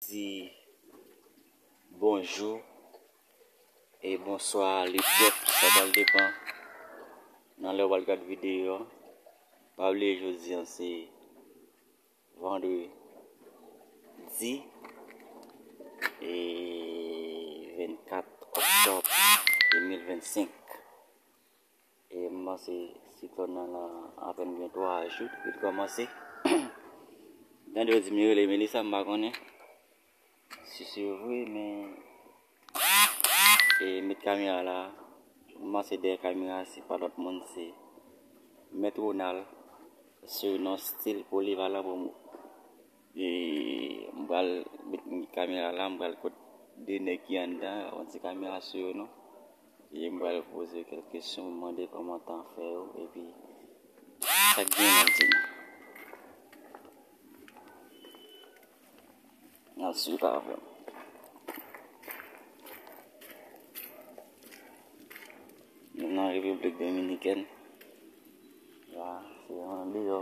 di bonjou e bonswa le pèp sa pral depan nan lè ou pral gad videyo an pa bliye jodi an se vandredi e 24 oktòb 2025 M panse siklòn nan lan apèn gen 3 jou depi l kòmanse. M tande yo di m li rele Melisa m pa konnen si se vre men e m met kamera la m panse dèyè kamera a se pa lòt moun se Mèt Ronald surnom stil polivalan pou m. M pral met kamera la m pral kot 2 nèg ki anndan an, mwen di kamera sou yo non e m pral poze yo kèk kesyon m mande yo kòman tan an fè yo epi sa k gen nan di n al swiv avè m. Nou nan repiblik dominikèn la se andeyò.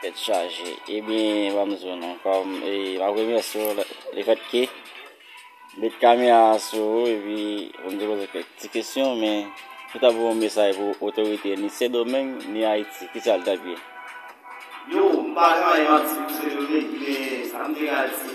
Tèt chaje ebyen pa bezwen non pa remèsye w lefèt ke m met kamera sou ou epi pou m te poze w kèk ti kesyon men ou ta voye yon mesaj pou otorite ni sendomeng ni ayiti kisa l tap ye? Yo, m pa travay manti pou sendomeng men sa m te ka di.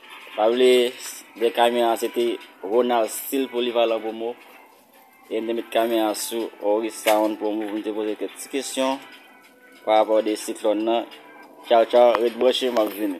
Pa vle de kamyon an se te Ronald Stil Polivalan Promo e m te met kamyon an sou Oris Sound Promo pou m te poze kèk ti kesyon pa rapò de siklòn nan. Tchaw tchaw ret branche m ap vini.